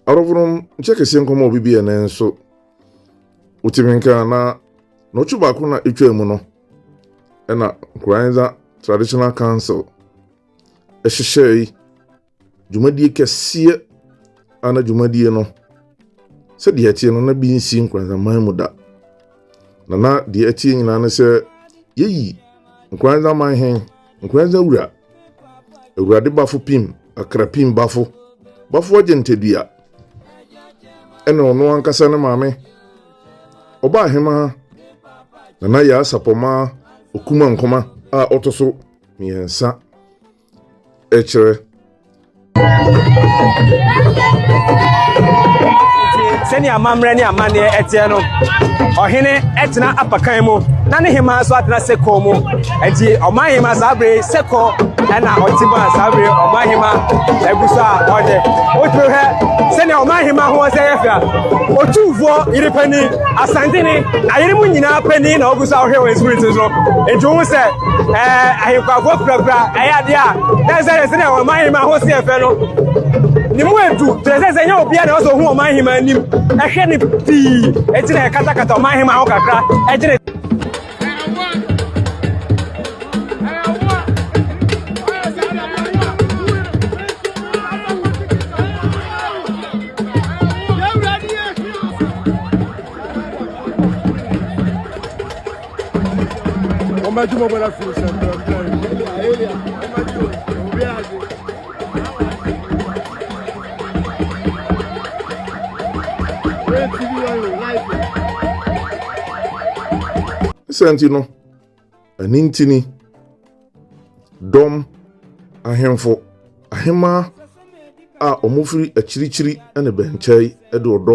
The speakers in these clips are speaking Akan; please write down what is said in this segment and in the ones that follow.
adɔfo nom nkyɛ kɛseɛ nkɔm a ɔbɛbi ɛnɛ nso wotumi nka na na ɔtwe baako na ɛtwa mu no ɛna nkoranza traditional council ɛhyehyɛe dwumadie kɛseɛ ana dwumadie no sɛdeɛ ɛteɛ no na bi nsi nkoranza man mu da na na deɛ ɛteɛ nyinaa ne sɛ yɛyi nkoranza man hen nkoranza wura awurade bafo pim akra pim bafo bafo agye ntadua ɛna ɔno ankasa ne maame ɔba ahema nana yɛ asapɔma okuma nkoma a ɔto so mmiɛnsa ɛkyerɛ sɛnea amammerɛ ne amanneɛ ɛteɛ no ɔhene ɛtena apakan mu na ne hema nso atena seko mu ɛti ɔman hema saa bere seko ɛna ɔte mu a saa bere ɔman hema ɛgu so a ɔde wotumi hwɛ sɛnea ɔman hema ho sɛ yɛ fɛ a otumfoɔ yere panyin asantene ayere mu nyinaa panyin na ɔgu so a ɔhwɛ wɔn spirit so nti wo sɛ ɛɛ ahenkwafoɔ kurakura ɛyɛ adeɛ a na sɛ sɛ na ɔman hema ho seɛ fɛ no ne mu edu kyerɛ sɛ sɛ nyɛ obiara na ɔsɛ ohun ɔman hema anim ɛhwɛ ne pii eti na ɛkatakata ɔman hema ho kakra ɛgyere. Wọ́n bá jùmọ̀ bọ́dá fi ṣe ẹ̀fẹ̀ ẹ̀fẹ̀ yìí. Sɛ nti no, ɛne ntini, dɔm, ahemfo, ahemaa a wɔfiri akyirikyiri ne bɛnkyɛe de ɔdɔ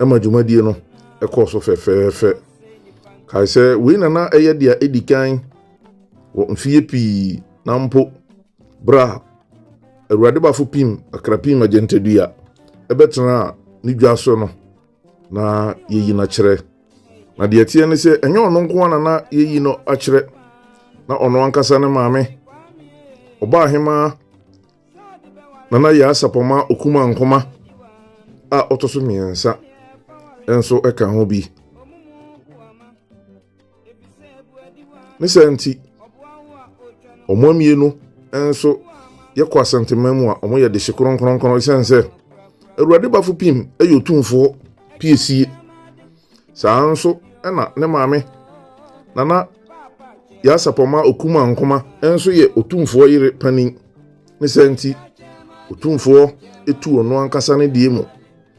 ɛma dwumadie no ɛkɔɔ so fɛfɛɛfɛ kae sɛ wei nana ɛyɛ deɛ ɛdi kan wɔ mfeɛ pii na mpo berɛ a awurade bafo pim akra pim agyantadua ɛbɛtena ne dwa so no Na yɛyi no akyerɛ. Na deɛ ɛteɛ ne sɛ ɛnyɛ ɔno nko na na yɛyi no akyerɛ na ɔno ankasa ne maame ɔbaa hemaa nana yɛ asapɔma okuma nkoma a ɔtɔ so mmiɛnsa nso ka ho bi ne sɛ nti wɔn mmienu nso yɛkɔ asɛntema mu a wɔyɛ de hye kronkronkron ɛsiane sɛ awurade bafo pim yɛ otumfoɔ piesie saa nso na ne maame nana yɛasapɔma okuma nkoma nso yɛ otumfoɔ yere panin ne sɛ nti otumfoɔ etu ɔno ankasa ne deɛ mu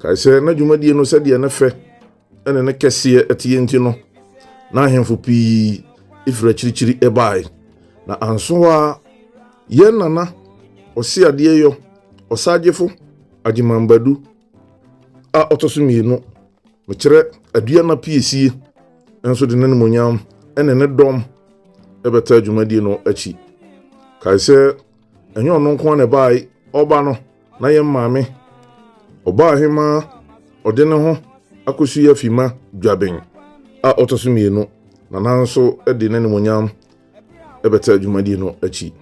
kae sɛ na dwumadie no sɛdeɛ ne fɛ ɛne ne kɛseɛ ɛteɛ nti no na ahemfo pii ɛfiri akyirikyiri ɛbae na anso a yɛn nana ɔse adeɛ yɔ ɔsagyefo agyemambadu a ɔtɔ so mmienu mekyerɛ adua no piesie nso de n'animonyam ɛne ne dɔm ɛbɛtaa dwumadie no akyi kae sɛ ɛnyɛ ɔno nko ara na ɛbae ɔba no na yɛn maame ɔbaa he ma ɔde ne ho akɔsi afi ma dwaben a ɔtɔ so mmienu na nanso de n'animonyam ɛbɛtɛ adwumadie no akyi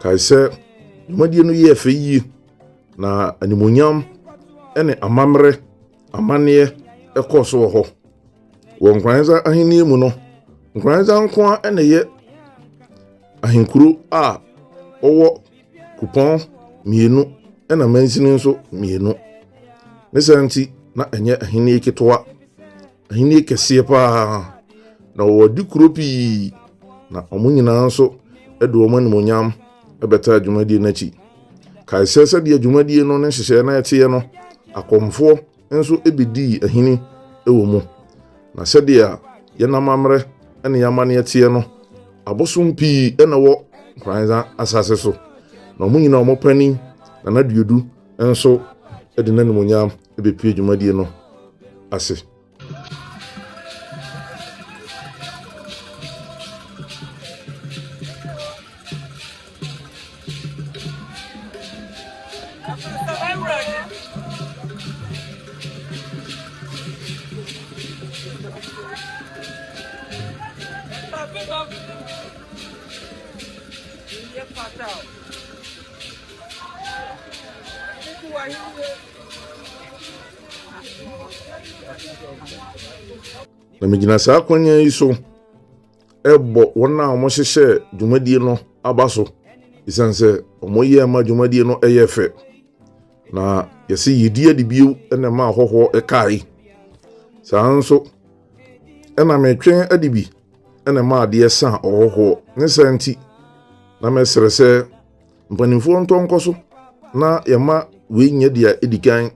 kae sɛ dwumadie no yɛɛ fɛ yie Na animonyam ne amammerɛ amanneɛ ɛkɔɔ so wɔ hɔ. Wɔ Nkoranza ahenni mu no, Nkoranza nko ara na ɛyɛ ahenkuro a ɔwɔ kupɔn mmienu na mansini nso mmienu. Ne saa nti, na ɛnyɛ ahenni ketewa. Ahenni kɛseɛ paa, na wɔwɔ adi kuro pii, na wɔn nyinaa nso de wɔn animonyam bɛtaa adwumadie no akyi. Kae sɛ sɛdeɛ adwumadie no ne nhyehyɛeɛ no ɛteɛ no, akɔmfoɔ nso bɛdii ahini wɔ mu. Na sɛdeɛ yɛn amammerɛ ne yɛn amanneɛ teɛ no, abosom pii na ɛwɔ Nkoranza asase so, na wɔn nyinaa wɔn panin, Nana Duodu nso de n'animuonyam bɛpue dwumadie no ase. Na megyina saa akwannya yi so ɛbɔ wɔn a wɔhyehyɛ dwumadie no aba so ɛsiane sɛ wɔyɛ ma dwumadie no ɛyɛ fɛ na yɛsɛ yɛdi adi bio na ɛma ahɔhoɔ ɛkae saa nso ɛna metwɛn adi bi ɛna ɛma adeɛ san ɔhɔhoɔ ne saa nti na mɛsrɛ sɛ Mpanimfoɔ ntɔ nkɔ so na yɛma wei nyɛ deɛ ɛdi kan,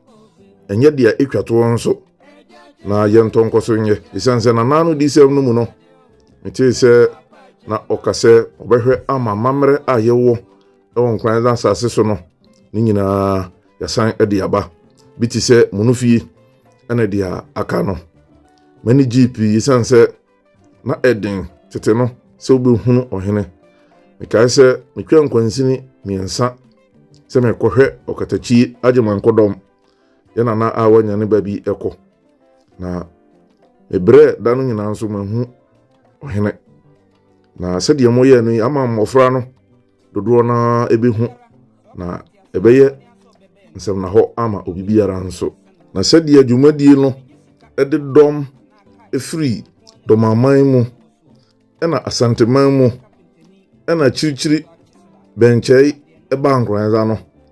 ɛnyɛ deɛ ɛtwa toɔ nso, na yɛntɔ nkɔ so nyɛ. Ɛsiane sɛ nanaa no disɛm no mu no, metee sɛ na ɔka sɛ ɔbɛhwɛ ama amammerɛ a yɛwɔ wɔ nkran no asase so no ne nyinaa yɛsan de aba. Bi te sɛ Monofie ne deɛ aka no. M'ani gyee pii ɛsiane sɛ Na ɛden tete no sɛ wobɛhunu ɔhene. Mekae sɛ metwa nkwansini mmiɛnsa sɛ mekɔhwɛ ɔkatakyi agyemankodɔm yɛ nana a wanya ne ba bi kɔ. Na mebrɛ da no nyinaa nso mahu ɔhene. Na sɛdeɛ moyɛ no yi ama mmɔfra no dodoɔ no ara bɛhu na ɛbɛyɛ nsɛmnahɔ ama obi biara nso. Na sɛdeɛ dwumadie no de dɔm firi dɔmaman mu ɛna asanteman mu ɛna akyirikyiri bɛnkyɛe ɛbaa nkoranza no,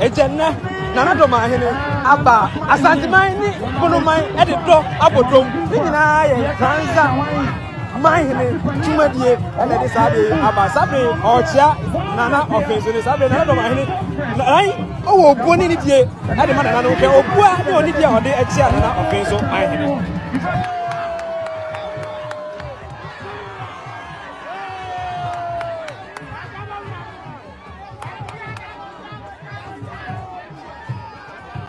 Agya nnɛ Nana Domahene aba Asanteman ne Bonoman de dɔ abɔ dɔm. Ne nyinaa yɛ Fransa manhene dwumadie na ɛde saa bere yi aba. Saa bere yi ɔrekyea Nana ɔfenso ne saa bere Nana Domahene nan ɔwɔ obuo ne nidie de ma Nana no hwɛ obua ne onidie a ɔde kyea Nana ɔfenso manhene.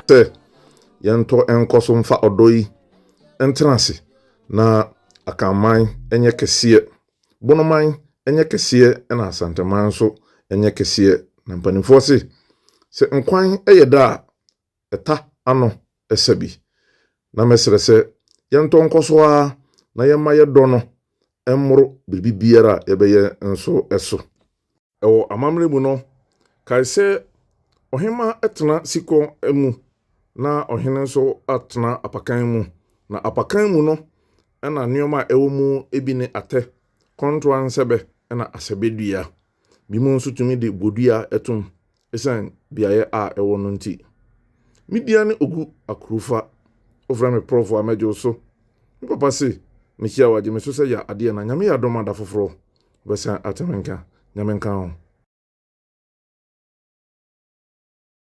Sɛ yɛntɔ nkɔ so mfa ɔdɔ yi ntena ase na Akanman nyɛ kɛseɛ, Bonoman nyɛ kɛseɛ na Asanteman nso nyɛ kɛseɛ. Na mpanimfoɔ se, sɛ nkwan yɛ da a, ɛta ano sa bi. Na mɛsrɛ sɛ yɛntɔ nkɔ so ara na yɛmma yɛdɔ no mmoro biribi biara a yɛbɛyɛ nso so. Wɔ amammerɛ mu no, kae sɛ ɔhemmaa tena sikɔ mu na ɔhene nso tena apakan mu, na apakan mu no na nneɛma a ɛwɔ mu bi ne atɛ, kɔntoa nsɛbɛ na asɛbɛdua. Binom nso tumi de bodua tom Esiane beaeɛ a ɛwɔ no nti. Me dia ne Ogu Akurufa. Wofrɛ me prɔfo a mɛgye wo so. Me papa se mehyia wo a gye me so sɛ ya adeɛ na Nyame yɛ adom a da foforɔ wobɛsan ate me nka. Nyame nka wo.